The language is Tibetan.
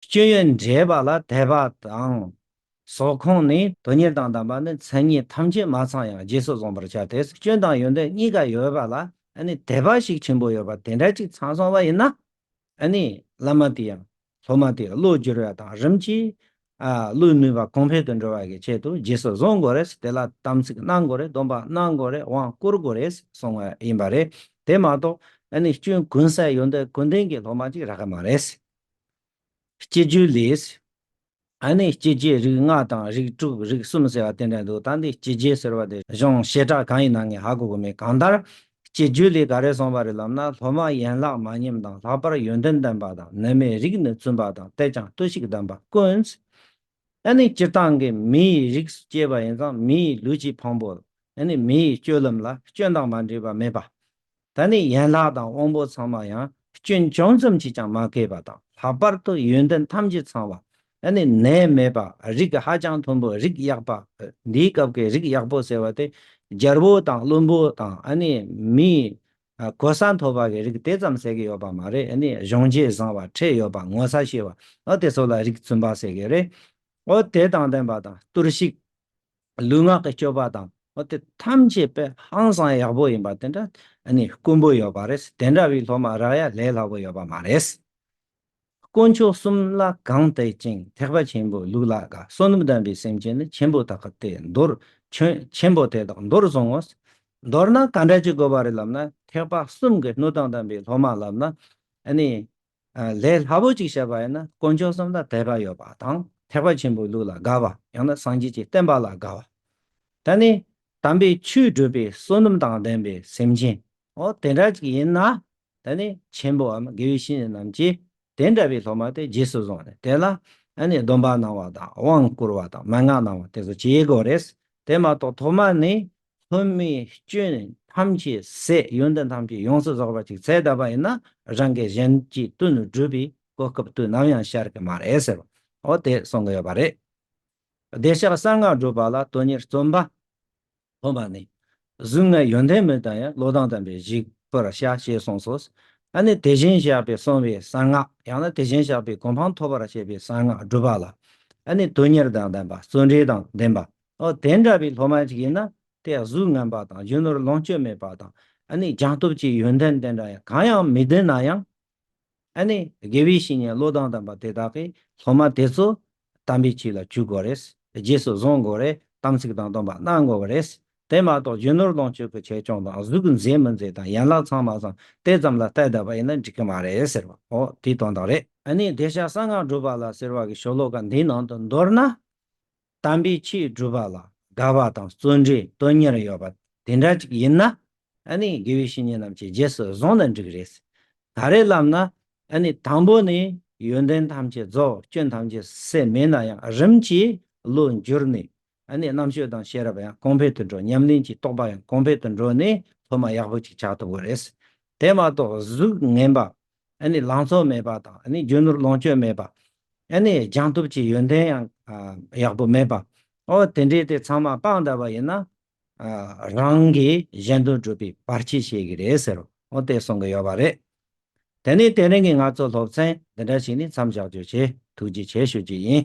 སྤྱོད་ཡུལ་འདྲེས་པ་ལ་དད་པ་དང། ཟོག་ཁོངས་ནི་དོན་གཉེར་དང་བདམས་པ་ནི་མཚན་ཉིད་ཐམས་ཅད་མ་ཚང་ཡང་རྗེས་སུ་བཟུང་བར་བྱ་དེས་སྐྱོན་དང་ཡོན་ཏན་གཉིས་ཀ་ཡོད་པ་ལ་དད་པ་ཞིག་ཆེན་པོ་ཡོད་པ་དེ་འདྲ་གཅིག་ཚང་སོང་བ་ཡིན་ན། བླ་མ་དེ་ཡང་སློབ་མ་དེའི་བློ་བསྒྱུར་བ་དང་རིམ་གྱིས་བློའི་ནུས་པ་གོང་འཕེལ་དུ་འགྲོ་བ་གི་ཆེད་དུ་རྗེས་སུ་བཟུང་དགོས་རེད་དེ་ལ་དམ་ཚིག་གནང་དགོས་རེད་སྡོམ་པ་གནང་དགོས་རེད་དབང་བསྐུར་དགོས་རེད་གསུང་བ་ཡིན་པ་རེད་དེ་མ་གཏོགས་སྐྱོན་ཀུན་ཟད་ཡོན་ཏན་ཀུན་ལྡན་གྱི་སློབ་མ་ཅིག་རག་གི་མ་རེད། སྐྱེ་རྒྱུད་ལས། ཨ་ནི་སྐྱེ་རྒྱུད་རིགས་ལྔ་དང་རིགས་དྲུག་རིགས་གསུམ་ཟེར་བ་དེ་འདྲ་འདུག་ད་འདི་སྐྱེ་རྒྱུད་ཟེར་བ་དེ་གཞུང་བཤད་གྲྭ་གང་ཡིན་ནང་ངས་ཧ་གོ་གི་མེད་གང་ལྟར། སྐྱེ་རྒྱུད་ལས་ག་རེ་གསུངས་པ་རེད་ལབ་ན་སློབ་མ་ཡན་ལག་མ་ཉམས་དང་ལྷག་པར་ཡོན་ཏན་ལྡན་པ་དང་ནད་མེད་རིགས་ནི་བཙུན་པ་དང་གཏད་ཅིང་ལྟོས་ཤིག་གདམས་པ་དཀོན། ཨ་ནི་སྤྱིར་བཏང་གི་མི་ཡི་རིགས་སུ་སྐྱེས་པ་ཡིན་ཙང་མི་ཡི་ལུས་ཀྱི་ཕུང་པོ་ཨ་ནི་མི་ཡི་སྤྱོད་ལམ་ལ་སྐྱོན་དང་མ་འདྲེས་པ་མེད་པ། ད་ནི་ཡན་ལག་དང་དབང་པོ་ཚང་མ་ཡང་སྐྱོན་ཅུང་ཙམ་གྱིས་ཀྱང་མ་གོས་པ་དང་ལྷག་པར་དུ་ཡོན་ཏན་ཐམས་ཅད་ཚང་བ། ད་ནི་ནད་མེད་པ་རིགས་ཧ་ཅང་མཐོན་པོ་རིགས་ཡག་པ། འདིའི་སྐབས་ཀྱི་རིགས་ཡག་པོ་ཟེར་བ་དེ་རྒྱལ་པོ་དང་བློན་པོ་དང་མིའི་གོ་ས་མཐོ་བ་གྱི་རིགས་དེ་ཙམ་ཟེར་གྱི་ཡོད་པ་མ་རེད་གཞོན་སྐྱེས་བཟང་བ་ཁྲེལ་ཡོད་པ་ངོ་ཚ་ཤེས་པ་དེ་ཚོ་ལ་རིགས་བཙུན་པ་ཟེར་གྱི་རེད། དེ་དང་ལྡན་པ་དང་གཏོར་བཤིག། ལུས་ངག་གི་སྤྱོད་པ་དང་བ་དེ་ཐམས་ཅད་དཔེ་ཧང་སང་ཡག་པོ་ཡིན་པ་དེ་འདྲ་དཀོན་པོ་ཡོད་པ་རེད་དེ་འདྲ་བའི་སློབ་མ་རག་ཡ་ལས་སླ་པོ་ཡོད་པ་མ་རེད། དཀོན་མཆོག་གསུམ་ལ་གང་བལྟས་ཅིང་ཐེག་པ་ཆེན་པོའི་ལུགས་ལ་དགའ་བསོད་ནམས་ལྡན་པའི་སེམས་ཅན་ནི་ཆེན་པོ་དག་གི་དེ་མདོར་ཁྱོད་ཆེན་པོ་དེ་དག་མདོར་བཟུང་ངོ། མདོར་ན་ག་འདྲ་བྱེད་དགོས་པ་རེད་ལབ་ན་ཐེག་པ་གསུམ་གྱི་སྣོད་དང་ལྡན་པའི་སློབ་མ་ལབ་ན། ལས་སླ་པོ་གཅིག་བྱེད་པ་ཡིན་ན་དཀོན་མཆོག་གསུམ་ལ་དད་པ་ཡོད་པ་དང་ཐེག་པ་ཆེན་པོའི་ལུགས་ལ་དགའ་བ་ཡང་ན་སངས་རྒྱས་ཀྱི་བསྟན་པ་ལ་དགའ་བ། ད་ནི་དམ་པའི་ཆོས་སྒྲུབ་པའི་བསོད་ནམས་དང་ལྡན་པའི་སེམས་ཅན་འོ་དེ་འདྲ་ཅིག་ཡིན་ན་ད་ནི་ཆེན་པོའམ་དགེ་བའི་བཤེས་གཉེན་རྣམས་ཀྱིས་དེ་འདྲ་བའི་སློབ་མ་དེ་རྗེས་སུ་བཟུང་ནས་དེ་ལ་སྡོམ་པ་གནང་བ་དང་དབང་བསྐུར་བ་དང་མན་ངག་གནང་བ་དེ་ཚོ་བྱེད་དགོས་རེད། དེ་མ་གཏོགས་ཐོག་མ་ནས་ལྷོད་མེད་སྐྱོན་ཐམས་ཅད་ཟད་ཡོན་ཏན་ཐམས་ཅད་ཡོངས་སུ་རྫོགས་པ་ཅིག་ཚད་ད་པ་ཡིན་ན་རང་གིས་གཞན་གྱི་དོན་དུ་བསྒྲུབས་པའི་གོ་སྐབས་དུས་ནམ་ཡང་ཤར་གི་མ་རེད་ཟེར་བ་དེ་གསུང་གི་ཡོད་པ་རེད། བདེ་གཤེགས་གསང་སྔགས་སྒྲུབ་པ་ལ་དོན་གཉེར་རྩོམ་པ་པོ་མ་ནི་གཟུགས་ལྔའི་ཡོན་ཏན་མི་དང་ཡང་བློ་དང་ལྡན་པའི་གཞིག་པར་བྱ་ཞེས་གསུངས་སོ། ད་ནི་དེ་བཞིན་གཤེགས་པས་གསུངས་པའི་གསང་སྔགས་ཡང་ན་དེ་བཞིན་གཤེགས་པའི་གོ་འཕང་ཐོབ་པར་བྱེད་པའི་གསང་སྔགས་སྒྲུབ་པ་ལ་ནི་དོན་གཉེར་དང་ལྡན་པ་བརྩོན་འགྲུས་དང་ལྡན་པ་དེ་འདྲ་བའི་སློབ་མ་ཞིག་ཡིན་ན་དེ་གཟུགས་ངན་པ་དང་གཞོན་ནུར་ལོངས་སྤྱོད་མེད་པ་དང་ཨ་ནི་སྦྱང་སྟོབས་ཀྱི་ཡོན་ཏན་དེ་འདྲ་ཡང་གང་ཡང་མི་ལྡན་ན་ཡང། ཨ་ནི་དགེ་བའི་བཤེས་གཉེན་བློ་དང་ལྡན་པ་དེ་དག་གིས་སློབ་མ་དེ་ཚོ་དམ་པའི་ཆོས་ལ་འཇུག་དགོས་རེད། རྗེས་སུ་བཟུང་དགོས་རེད་དམ་ཚིག་དང་སྟོན་པ་གནང་དགོས་པ་རེད། དེ་མ་གཏོགས་གཞོན་ནུར་ལོངས་སྤྱོད་ཀྱི་ཆེད་སྐྱོང་དང་གཟུགས་མཛེས་མི་མཛེས་དང་ཡན་ལག་ཚང་མ་ཚང་དེ་ཙམ་ལ་བལྟས་བསྡད་པ་ཡིན་ན་འགྲིག་གི་མ་རེད་ཟེར་བ་འོ་དེའི་དོན་དག་རེད། ཨ་ནི་བདེ་གཤེགས་གསང་སྔགས་སྒྲུབ་པ་ལ་ཟེར་བ་གི་ཤོ་ལོ་ཀ་འདིའི་ནང་དུ་མདོར་ན། དམ་པའི་ཆོས་སྒྲུབ་པ་ལ་དགའ་བ་དང་བརྩོན་འགྲུས་དོན་གཉེར་ཡོད་པ་དེ་འདྲ་ཅིག་ཡིན་ན་ནི་དགེ་བའི་བཤེས་གཉེན་རྣམས་ཀྱི་རྗེས་སུ་བཟུང་ན་འགྲིག་རེད། ད་རེས་ལབ་ན་ནི་དང་པོ་ནས་ཡོན་ཏན་ཐམས་ཅད་རྫོགས་སྐྱོན་ཐམས་ཅད་སེལ་མེད་ན་ཡང་རིམ་གྱིས་བློ་འགྱུར་ནས་རྣམ་དཔྱོད་དང་ཤེས་རབ་ཡང་གོང་འཕེལ་དུ་འགྲོ་ཉམས་ལེན་གྱི་རྟོགས་པ་ཡང་གོང་འཕེལ་དུ་འགྲོ་ནས་སློབ་མ་ཡག་པོ་ཅིག་ཆགས་ཐུབ་པོ་རེད། དེ་མ་གཏོགས་གཟུགས་ངན་པ་ལང་ཚོ་མེད་པ་དང་རྒྱུ་ནོར་ལོངས་སྤྱོད་མེད་པ། སྦྱངས་སྟོབས་ཀྱི་ཡོན་ཏན་ཡང་ཡག་པོ་མེད་པ། འོ་དེ་འདྲས་དེ་ཚང་མ་སྤང་དག་པ་ཡིན་ན། རང་གིས་གཞན་དོན་སྒྲུབ་པའི་བར་ཆད་བྱེད་གི་རེད་ཟེར་རོ་དེ་གསུང་གི་ཡོད་པ་རེད། དེ་ནས་དེ་རིང་གི་ང་ཚོ་སློབ་ཚན་འདི་འདྲ་ཞིག་ནས་མཚམས་བཞག་རྒྱུ་བྱས་ཐུགས་རྗེ་ཆེ་ཞུ་རྒྱུ་ཡིན།